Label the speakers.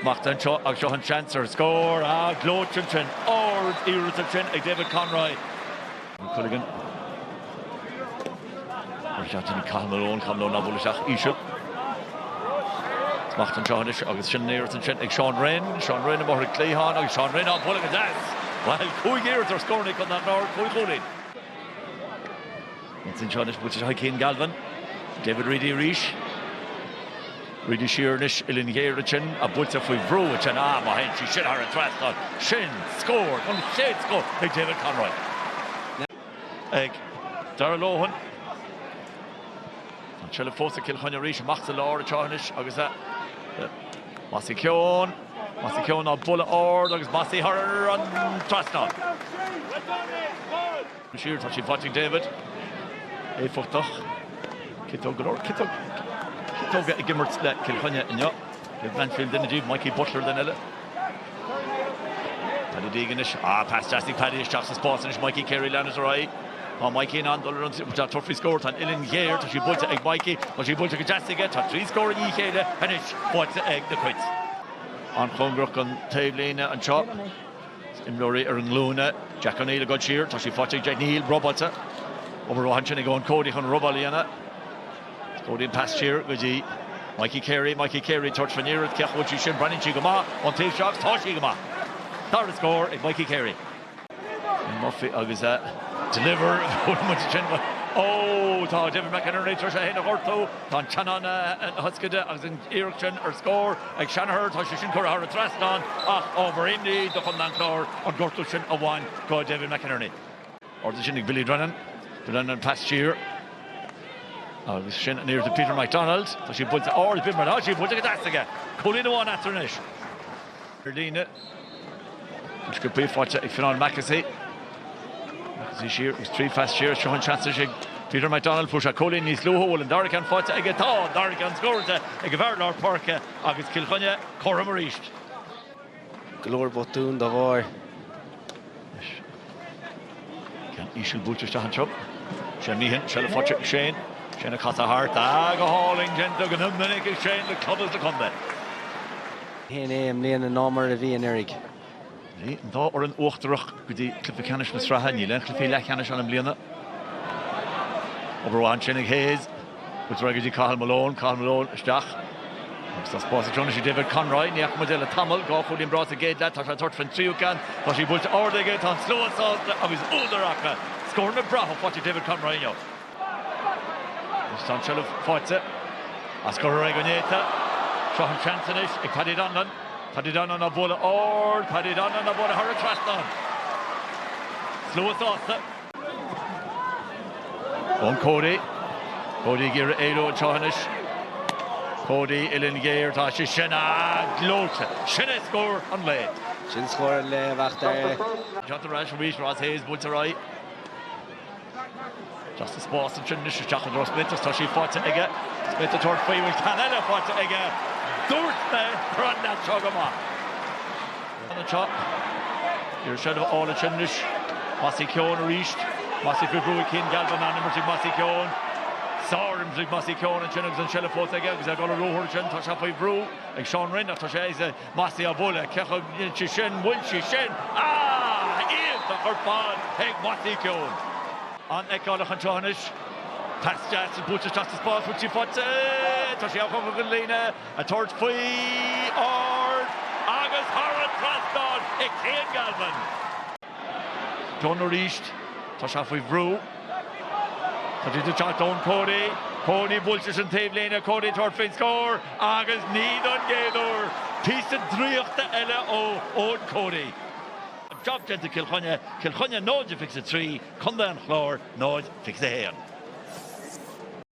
Speaker 1: Smacht anseo agus seo an seans ar scór. Á, gleoite ansin. Ardiarracht ansin ag David Conroy. Culligan. Mar cheart sin ag Cathal Malone. Cathal Malone á bualadh isteach íseal. Smacht anseo anois agus sin an iarracht ansin ag Seán Rynne. Seán Rynne amuigh ar an gcliathán agus Seán Rynne á bualadh go deas. Bhuel, cúig iarracht ar scór ag Condae an Chláir, cúig chúilín. Ins an ceann is moite de chuid Chian Galvin, David Reidy arís. Reidy siar anois, uillinn ghéar ansin, á, buailte faoi bhrú ansin, á, má théann sí sin thar an trasnán, sin scór, an chéad scór ag David Conroy. Ag Darragh Lohan. An seilbh fós ag Cill Chainnigh arís, amach sa lár atá anois agus a' Mossy Keoghan, Mossy Keoghan á bualadh ard agus Mossy thar an trasnán. siar, tá sí sin faighte ag David. Éifeachtach. Citeog, go leor citeog, citeoga ag imirt le Cill Chainnigh inniu. David Blanchfield duine díobh, Mikey Butler duine eile. Paddy Deegan anois. Ah, pas deas ag Paddy isteach sa spás anois, Mikey Carey leanann sé ar aghaidh. Tá Mikey in ann dul ar an trí, tá tabhairt faoi scór, tá an uillinn ghéar, tá sí buailte ag Mikey, tá sí buailte go deas aige, tá trí scór i ndiaidh a chéile anois faighte ag na Cait. An-chóngarach don taobhlíne anseo. Imreoirí ar a nglúine. Jack O'Neill ag dul siar. Tá sí faighte ag Jack O'Neill. Robáilte. Obair mhaith ansin ag Eoin Cody chun an robáil a dhéanamh. Cody an pas siar go dtí Mikey Carey. Mikey Carey tabhairt faoin iarracht. Cén chaoi a bhfuil sí sin? Breathnaíonn sí go maith ón taobh seo agus tá sí go maith! Dara scór ag Mikey Carey. Eoin Murphy agus a deliver. Bhuail muid ansin go Ó! Tá David McInerney tar éis é féin a ghortú. Tá an teannán na hioscaide agus an iarracht sin ar scór. Ag Shanagher tá sé sin curtha thar an trasnán ach ábhar imní do Chondae an Chláir an gortú sin a bhain do David McInerney. Ardaithe ansin ag Billy Drennan. Drennan pas siar agus sin an iarracht ag Peter McDonald. Tá sí buailte ard ag Peter, tá sí buailte go deas aige. Cúilín amháin eatarthu anois. Ar líne. An sciobadh í faighte ag Fionán Mackessy. Mackessy siar agus trí phas siar. Seo an seans ag Peter McDonald. Fuair sé cúilín níos luaithe. An bhfuil an dara ceann faighte aige? Tá an dara ceann scórailte ag an bhfear lár páirce agus Cill Chainnigh comhthrom arís.
Speaker 2: Go leor botún dá bharr.
Speaker 1: leis. Ceann íseal buailte isteach anseo. Shane Meehan, seilbh faighte ag Shane. Shane ag casadh thart. Ah, go hálainn déanta go minic ag Shane le club is le contae.
Speaker 2: Shéan é i mbliana ná mar a bhí anuraidh. Bhí an
Speaker 1: dá fhoireann uachtarach go dtí cluiche ceannais na sraithe. Níl aon chluichí leathcheannais ann i mbliana. Obair mhaith ansin ag Hayes. i dtreo Cathal Malone, Cathal Malone isteach agus tá spás ansin anois David Conroy, ní fhaca muid é le tamall, dhá chúilín breá sa gcéad leath, tá sé ag tabhairt faoin tríú ceann, tá sí buailte ard aige, tá an slua sásta agus údar acu! Scóranna breátha faighte ag David Conroy inniu agus tá an tseilbh faighte acu go réidh go néata. Seo an seans anois ag Paddy Donlan, Paddy Donlan á bualadh ard, Paddy Donlan á bualadh thar an trasnán. Slua sásta. Eoin Cody. Cody ag iarraidh éalú anseo anois. Cody, uillinn ghéar, tá sé sin gleoite. Sin é scór an lae. Sin scór an lae,
Speaker 2: a Mhac Dara. Seo ar
Speaker 1: ais arís, Ross Hayes buailte ar aghaidh. Tá an spás ansin anois isteach i dtreo Smith agus tá sí faighte aige. Smith ag tabhairt faoi, bhfuil ceann eile faighte aige. Dúirt mé go raibh leaid seo go maith. anseo. Ag iarraidh seilbh a fháil ansin anois. Mossy Keoghan arís. Mossy faoi bhrú ag Cian Galvin, an-imirt ag Mossy Keoghan. Sár-imirt ag Mossy Keoghan ansin agus an tseilbh fós aige agus é ag dul ar ruathar ansin. Tá sé faoi bhrú ag Seán Rynne ach tá sé ag Mossy á bualadh. Cé acu dhéanfaidh sé sin? Bhfuil sí sin. Ah! Iontach ar fad ag Mossy Keoghan. An-fheiceáileach anseo anois. Pas deas buailte isteach sa spás, bhfuil sí faighte. Tá sí ag Cathal ag an líne. Ag tabhairt faoi, ard, agus thar an trasnán ag Cian Galvin. Dunne arís. Tá sé faoi bhrú. Tá sé ag teacht Eoin Cody. Cody buailte sa taobhlíne. Cody ag tabhairt faoin scór agus ní don gcéad uair. Píosa draíochta eile ó Eoin Cody. Jab déanta Cill Chainnigh. Cill Chainnigh 0 fiche 3, Contae an Chláir 0 fiche 1.